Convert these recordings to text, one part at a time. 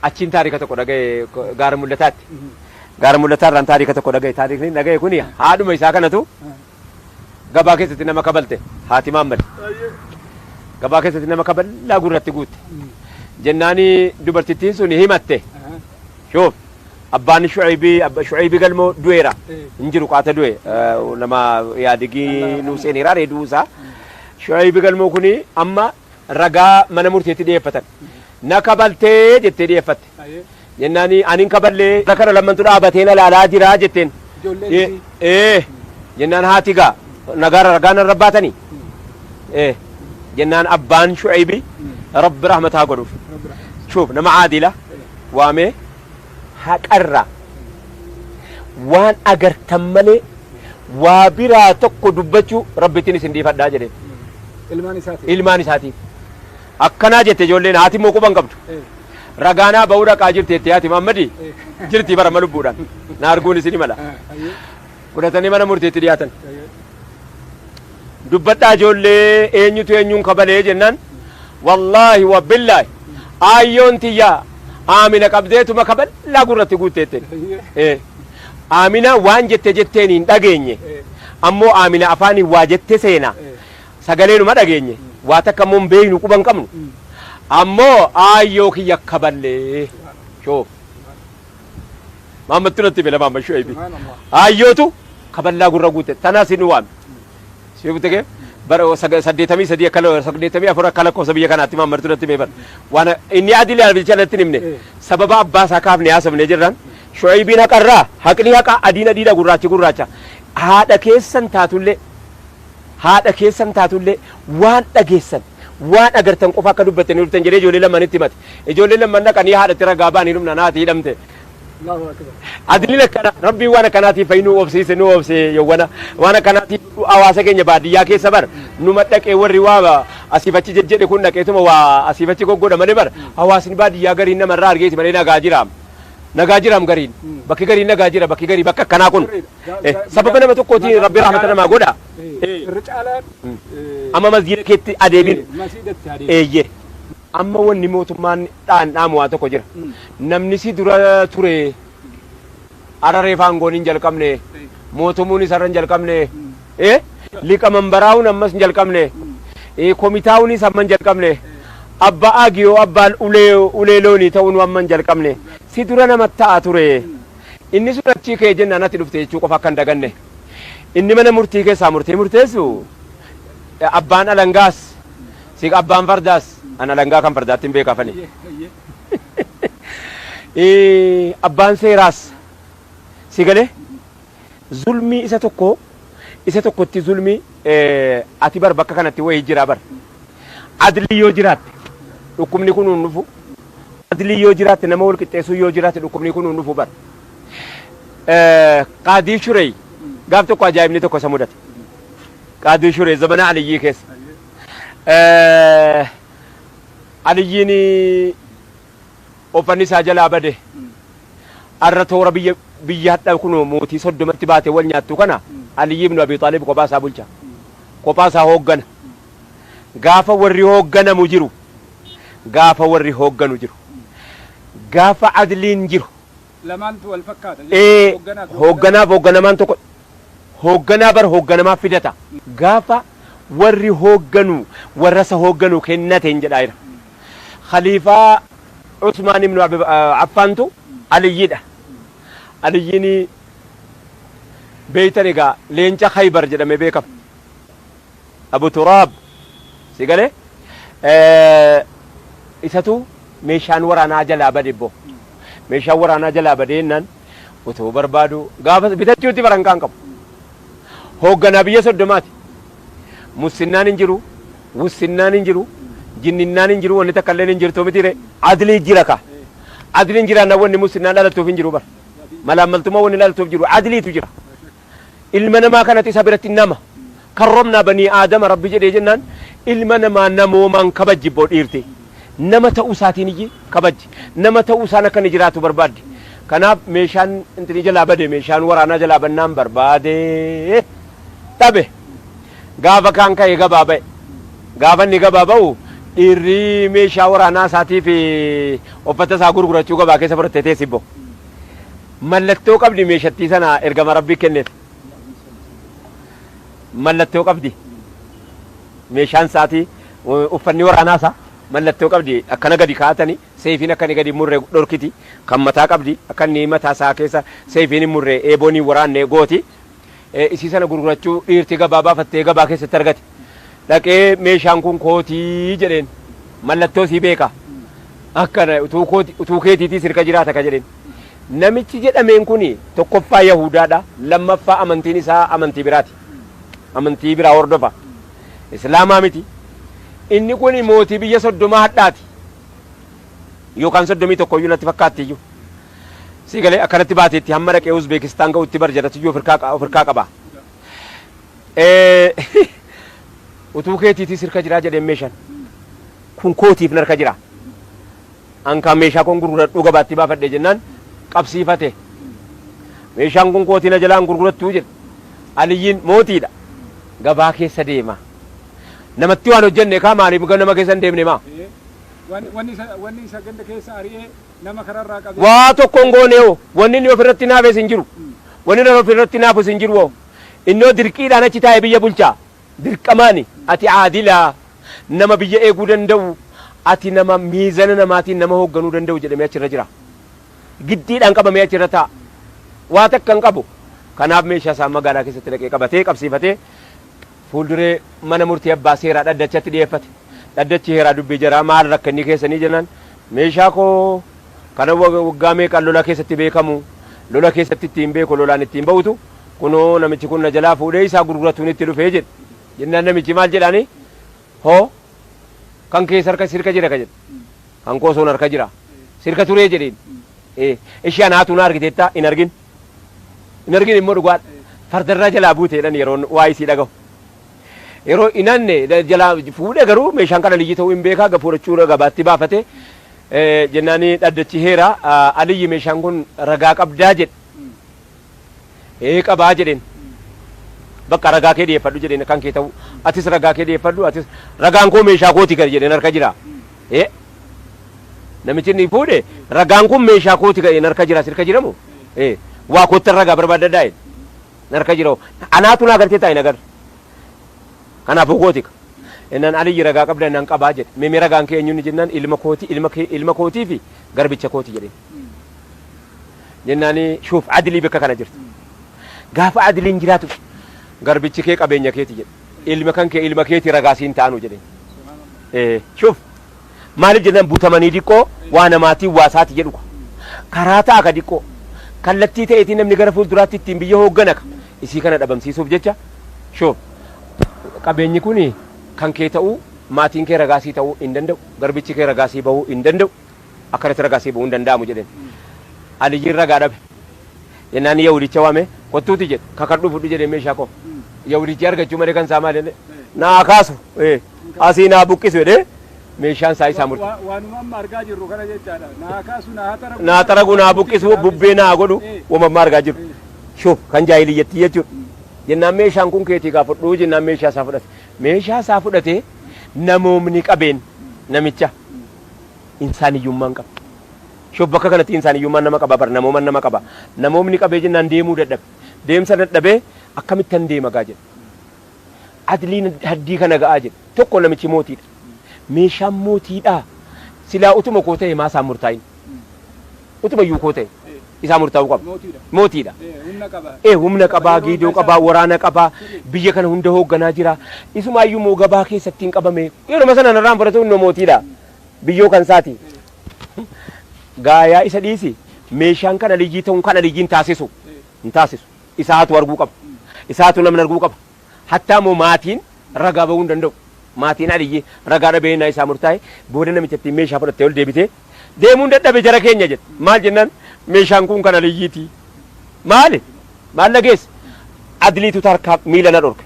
Achiin taarika tokko dhagaye gaara mul'ataatti. Gaara mul'ataarraan taarika tokko dhagaye. Taarikni dhagaye kun haadhuma isaa kanatu gabaa keessatti nama kabalte haati maammad. Gabaa keessatti nama kaballaa gurratti guutte. Jennaani dubartittiin sun himatte. Shoof abbaan shu'aybii abba shu'aybii galmoo du'eera. Hin jiru qaata du'e nama yaadigii nuu seeneeraa reeduu isaa. Shu'aybii galmoo kuni amma ragaa mana murteetti dhiyeeffatan. Na kabaltee jettee dhiyeeffatte. Jennaan ani hin kaballee bara kana lammantu dhaabatee na laalaa jira jetteen. Ee jennaan haati gaa nagaa ragaa narra baatanii. Ee jennaan abbaan shu'eebi rabbi rahmataa godhuuf. Shuuf nama caadila waamee. haqarraa waan agartan malee waa biraa tokko dubbachuu Rabbittiin isin dhiifadhaa jedheen. Ilmaan isaatiif. Ilmaan isaatiif. Akkanaa jette ijoolleen haati immoo quba hin qabdu. Eh, Ragaanaa ba'uu dhaqaa jirti jettee haati Maammadii eh, jirti barama lubbuudhaan. Na arguun isin mala. eh, ayyee. fudhatanii mana murtiitti dhiyaatan. Dubbadhaa ijoollee eenyutu eenyuun kabalee jennaan wallaahi wabbillaahi aayyoon tiyyaa aamina qabdeetuma kaballaa gurratti guutteetteen. Aamina waan jette jetteen hin dhageenye ammoo aamina afaaniin waa jette seena sagaleenuma dhageenye waa takka ammoo hin beeknu quba hin qabnu ammoo aayyoo kiyya kaballee shoof. Maammattu natti file maamma shu'eebi. Aayyootu kaballaa gurra guute tanaa si nu waame. Si beekute kee bara saga- saddeetamii sadii akka la- saddeetamii afur akka lakkoofsa biyya kanaatti maammattu natti beeban. Waan inni adii laalbicha natti hin himne sababa abbaa isaa kaafne haasofne jirran shu'eebiin haqarraa haqni haqa adiin adiidha gurraachi gurraacha haadha keessan taatullee Haadha keessan taatu illee waan dhageessan, waan agartan qofa akka dubbattanii dhuftan jedhee ijoollee lammanitti himate. Ijoolleen lamman dhaqanii haadhatti ragaa ba'anii dhumnaan haati hidhamte. Adiliin akkana rabbiin waan akkanaatiif fa'i nu obsiise nu obse yowwana waan akkanaatiif hawaasa keenya baadiyyaa keessa bar numa dhaqee warri waa asiif achi jejjedhe kun dhaqeetuma waa asiif achi goggoodha malee bar hawaasni baadiyyaa gariin namarraa argeeti malee nagaa jiraam nagaa jiraam gariin bakki gariin nagaa jira bakki garii bakka akkanaa kun Eh, sababa nama tokkootiin Rabbi rahmata namaa godha. Eh. Irra caalaan eh, Amma masjiida keetti eh, adeemin. masiidatti adeemu. Eeyye. Amma wanni mootummaan dhaan dhaamu waa tokko jira. Mm. Namni si dura ture araree faangoon hin jalqabne. Mootummuun isarra hin jalqabne. Eh? Liqa mambaraa'uun ammas hin jalqabne. Eh, Komitaa'uunis amma hin jalqabne. Abbaa aagiyoo abbaan ulee ulee loonii ta'uun amma hin jalqabne. Si dura nama ta'a ture. Inni sun achii ka'ee jennaan ati dhufte jechuu qofa akka hin daganne. Inni mana murtii keessaa murtee murteessu abbaan alangaas si abbaan fardaas an alangaa kan fardaatti hin beeka afani. Abbaan seeraas si galee zulmii isa tokko isa tokkotti zulmii Ati bar bakka kanatti wayii jira bar. Adlii yoo jiraatte dhukkubni kun hin dhufu. Adlii yoo jiraatte nama wal qixxeessuun yoo jiraatte dhukkubni kun hin dhufu bar. Qaadii Shurey gaaf tokko ajaa'ibni tokko isa mudate. Qaadii Shurey zamana Aliyyii keessa. Aliyyiin Uffanni isaa jalaa bade. Arra toora biyya biyya hadha kuno mootii soddomatti baate wal nyaattu kana Aliyyii ibnu Abii Xaalib kophaa isaa bulcha. Kophaa isaa hooggana. Gaafa warri hoogganamu jiru. Gaafa warri hoogganu jiru. Gaafa adliin jiru. lamaantu wal fakkaata jechuudha. Ee, Hoogganaa fi hoogganaa fi hoogganamaan tokko hoogganaa bar hoogganamaa fidata. Gaafa warri hoogganu warra isa hoogganu kennateen jedhaa jira. Khaliifaa Usmaan ibnu Abi- ah, Affaantu Aliyyidha. Aliyyiin beeytan egaa leenca Khaybar jedhame beekama. Abu Turaab si gale isatu meeshaan waraanaa jalaa bade bbo. Meeshaan waraanaa jalaa badee jennaan otoo barbaaduu gaafas bitachuutti barankaa hin qabu. Hoogganaa biyya soddomaati. Mussinnaan hin jiru, wussinnaan hin jiru, jinninnaan hin jiru, wanni takka illeen hin jirtu mitiiree? Adliin jira kaa. Adliin jiraannaan wanni mussinnaan dhalattuuf hin jiru bar. Malaammaltummaan wanni dhalattuuf jiru adliitu jira. ilma namaa kanati isa biratti nama karromnaa banii aadama rabbi jedhee jennaan ilma namaa namoomaan kabajji bbo dhiirti nama ta'uu isaatiin iyyi kabajji nama ta'uu isaan akka inni jiraatu barbaaddi kanaaf meeshaan intini jalaa bade meeshaan waraanaa jalaa bannaan barbaade dhabe gaafa kaan ka'e gabaa ba'e gaafa inni gabaa ba'u dhiirri meeshaa waraanaa isaatiif uffata isaa gurgurachuu gabaa keessa fudhattee teessi bbo Mallattoo qabdi meeshattii sana ergama Rabbii kenneef. Mallattoo qabdi. Meeshaan isaatii uffanni waraanaa isaa mallattoo qabdi akkana gadi kaa'atanii seefiin akka inni gadi murre dhorkiti kan mataa qabdi akka inni mataa isaa keessa seefiin hin murre eeboon hin waraanne gooti. isii sana gurgurachuu dhiirti gabaa baafattee gabaa keessatti argate. Dhaqee meeshaan kun kootii jedheen mallattoo sii beeka. Akkana utuu kooti utuu keetiitii sirka jiraata ka jedheen. Namichi jedhameen kun tokkoffaa Yahudaadha lammaffaa amantiin isaa amantii biraati. Amantii biraa hordofa. Islaamaa miti. Inni kun mootii biyya soddomaa hadhaati. Yookaan soddomii tokkoyyuu natti fakkaattiyyuu. Sii galee akkanatti baateetti hamma dhaqee Uzbeekistaan ga'utti bar jarratiyyuu of hirkaa of hirkaa qaba. Utuu keetiitii sirka jiraa jedheen meeshan kun kootiif narka jira. An kaa meeshaa koon gurguradhuu gabaatti baafadhee jennaan qabsiifate. Meeshaan kun kootii na jalaa hin gurgurattuu jedhe. Aliyyiin mootiidha. Gabaa keessa deema. Namatti waan hojjenne kaa maaliif nama keessa hin deemne maa? Wanni isa ganda keessa ari'ee Waa tokko hin goone hoo? Wanni inni of irratti hinaafes hin jiru. Wanni inni of irratti hinaafus hin jiru hoo? Inni hoo dirqiidhaan achi taa'e biyya bulchaa? Dirqamaani? Ati aadila, nama biyya eeguu danda'u, ati nama miizana namaatiin nama hoogganuu danda'u jedhamee achi irra jira. Giddiidhaan qabamee achi irra taa'a. Waa takka hin qabu. Kanaaf meeshaa isaa magaalaa keessatti dhaqee qabatee qabsiifatee, fuulduree mana murtii abbaa seeraa dhaddachatti dhiyeeffate. Dhaddachi heeraa dubbii jaraa maal rakkinni keessanii jennaan meeshaa koo kanan waggaa meeqan lola keessatti beekamu lola keessatti ittiin beeku lolaan ittiin ba'utu kunoo namichi kun na jalaa fuudhee isaa gurguratuun itti dhufee jedhe. Jennaan namichi maal jedhaanii hoo kan kees harka sirka jira ka jedhe kan koo soon harka jira sirka turee jedheen ee ishi anaatu na argiteetta hin argin hin argin immoo dhugaadha. Fardarraa jalaa buute jedhan yeroon waa isii dhagahu. Yeroo hin hanne jalaa fuudhe garuu meeshaan kan aliyyi ta'uu hin beekaa gafuurachuu gabaatti baafate jennaani dhaddachi heera aliyyi meeshaan kun ragaa qabdaa jedhe. Ee qabaa jedheen. Bakka ragaa kee dhiyeeffadhu jedheen kan kee ta'uu atis ragaa kee dhiyeeffadhu atis ragaan koo meeshaa kooti kan jedheen harka jira. Ee Namichi inni fuudhe ragaan kun meeshaa kooti ka'e narka jira sirka jiramu ee waa koottan ragaa barbaadadhaa jedhe narka jira anaatu naa galtee taa'e nagar kanaafuu kootika innaan aliyyi ragaa qabda innaan qabaa jedhe mimi ragaan kee eenyuun jennaan ilma kooti ilma kee ilma kootii fi garbicha kooti jedheen jennaani shuuf adilii bakka kana jirti gaafa adiliin jiraatu garbichi kee qabeenya keeti jedhe ilma kan kee ilma keeti ragaa siin ta'anu jedheen. Eh, Shuf maaliif jennaan butamanii diqqoo waa namaatiin waa isaati jedhu ka. karaa ta'a ka diqqoo kallattii ta'eetiin namni gara fuulduraatti ittiin biyya hooggana ka isii kana dhabamsiisuuf jecha shuf qabeenyi kun kan kee ta'uu maatiin kee ragaasii ta'uu hin danda'u garbichi kee ragaasii bahuu hin danda'u akka irratti ragaa sii bu'uu hin danda'amu jedheen. Aliyyiin ragaa dhabe. Jennaan Yahudicha waamee kottuuti jedhe kakadhuu fudhu jedhee meeshaa koo. Yahudichi argachuu malee kan isaa maal jedhee naa kaasu ee, asii naa buqqisu jedhee meeshaan isaa isaa murte. Wa- Waanuma amma argaa jirru kana jechaadha. Naa kaasu naa hataragu. Naa xaragu naa buqqisu bubbee naa godhu Eh. uumammaa argaa jiru. Shuf kan jaahiliyyattii jechuudha. Jennaan meeshaan kun keetii kaa fudhuu jennaan meeshaa isaa fudhate. Meeshaa isaa fudhatee namoomni qabeen namicha. Insaaniyyummaa hin qabdu. Ishoo bakka kanatti insaaniyyummaan nama qaba bar namooman nama qaba. Namoomni qabee jennaan deemuu dadhabe. Deemsa dadhabee akkamittan deema gaa jedhe. Adliin haddii kana ga'aa jedhe. Tokko namichi mootiidha. Meeshaan mootiidhaa? Silaa utuma koo ta'ee maa isaan murtaa'in? Utuma iyyuu koo ta'e isaa murtaa'uu qaba. Mootiidha. Ee humna qabaa, geedoo qabaa, waraana qabaa, biyya kana hunda hoogganaa jira. Isumaa iyyuu immoo gabaa keessatti hin qabame. Yeruma sana narraan fudhatu innoo mootiidha. Biyyoo kan isaati. Gaayaa isa dhiisi. Meeshaan kan Aliyyii ta'uun kan Aliyyiin taasisu hin taasisu. Isaatu arguu qaba. Isaatu namni arguu qaba. Hattaa immoo maatiin ragaa bahuu hin danda'u. Maatiin Aliyyii ragaa dhabee ennaa isaa murtaa'e booda namichattiin meeshaa fudhattee ol deebitee deemuun dadhabe jara keenya jette. Maal jennaan meeshaan kun kan Aliyyiiti. Maali? Maal na geesse? Adliitu tarkaa miila na dhorke.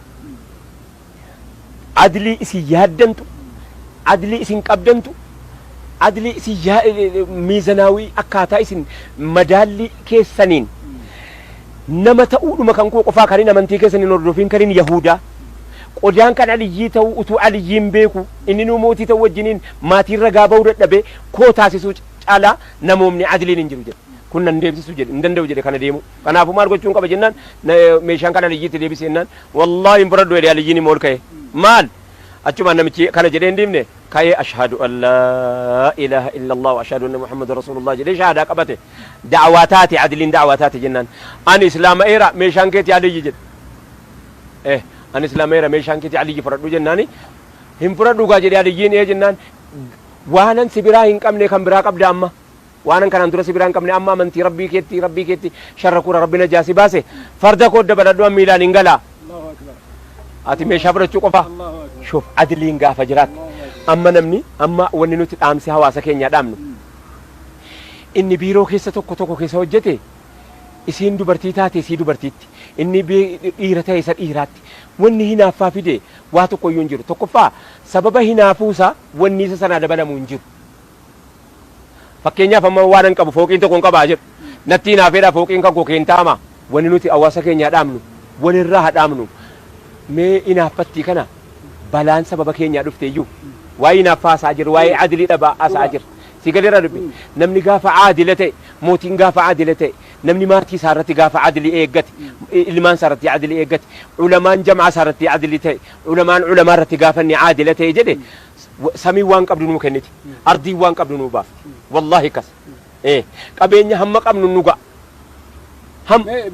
Adlii isin yaaddantu, adlii isin qabdantu, adlii isin yaa- miizanaawii akkaataa isin madaallii keessaniin Nama ta'uudhuma kan koo qofaa kanin amantii keessan hin hordofiin kanin Yahuudaa qodaan kan Aliyyii ta'uu utuu Aliyyiin beekuu inninuu mootii ta'uu wajjiniin maatiin ragaa ba'uu dadhabee koo taasisuu caalaa namoomni adiliin hin jiru jedhe. Kun nan deemsisu jedhe hin danda'u jedhe kana deemuu. Kanaafuu maal gochuun qaba jennaan meeshaan kan Aliyyii itti deebisi jennaan wallaahi hin fudhadhu jedhe Aliyyiin immoo ol ka'ee maal achumaan namichi kana jedhee hin dhiifne ka'ee ashhaadu an laa ilaaha illallah wa ashhaadu anna Muhammadan rasuulullah jedhee shahaadaa qabate. Da'waa taate Adliin da'waa taate jennaan Ani islaama'eera meeshaan keeti Aliyyi jedhe. E Ani islaama'eera meeshaan keeti Aliyyi fudhadhu jennaani Hin fudhadhu kaa jedhe Aliyyiin Ee jennaan Waanan si biraa hin qabne kan biraa qabda amma? Waanan kanaan dura si biraa hin qabne amma amantii Rabbii keetti Rabbii keetti sharrakuura Rabbi najaa si baase farda koo dabaladhu an miilaan hin gala Ati meeshaa fudhachuu qofaa? Shuuf Adliin gaafa jiraattu amma namni amma wanni nuti dhaamsi hawaasa keenyaa dhaamnu Inni biiroo keessa tokko tokko keessa hojjete isiin dubartii taate isii dubartiitti, inni dhiira ta'e isa dhiiraatti. Wanni hinaaffaa fide waa tokkoyyuu hin jiru. Tokkoffaa sababa hinaafuu isaa wanni isa sanaa dabalamu hin jiru. Fakkeenyaaf amma waanan qabu fooqiin tokkon qaba haa jedhu. Natti hinaafeedhaa fooqiin kan koo kee hin ta'amaa? Wanni nuti hawaasa keenyaa dhaamnu walirraa haa dhaamnu. Mee hinaaffattii kana balaan sababa keenyaa dhufteeyyuu waa'ee hinaaffaa haasa'aa jirra, waa'ee adilii dhabaa haasa'aa jirra. Sii galeeraa dubbiin? Namni gaafa aadila ta'e, mootiin gaafa aadila ta'e, namni maatii isaa irratti gaafa adlii eeggate, ilmaan isaa irratti adlii eeggate, ulamaan jam'aa isaa irratti adlii ta'e, ulamaan ulamaa irratti gaafa inni aadila ta'e jedhe, samiin waan qabdu nuu kenniti, ardiin waan qabdu nuu baafti. Wallaahi akkas. Ee, qabeenya hamma qabnu nu ga'a. Ham.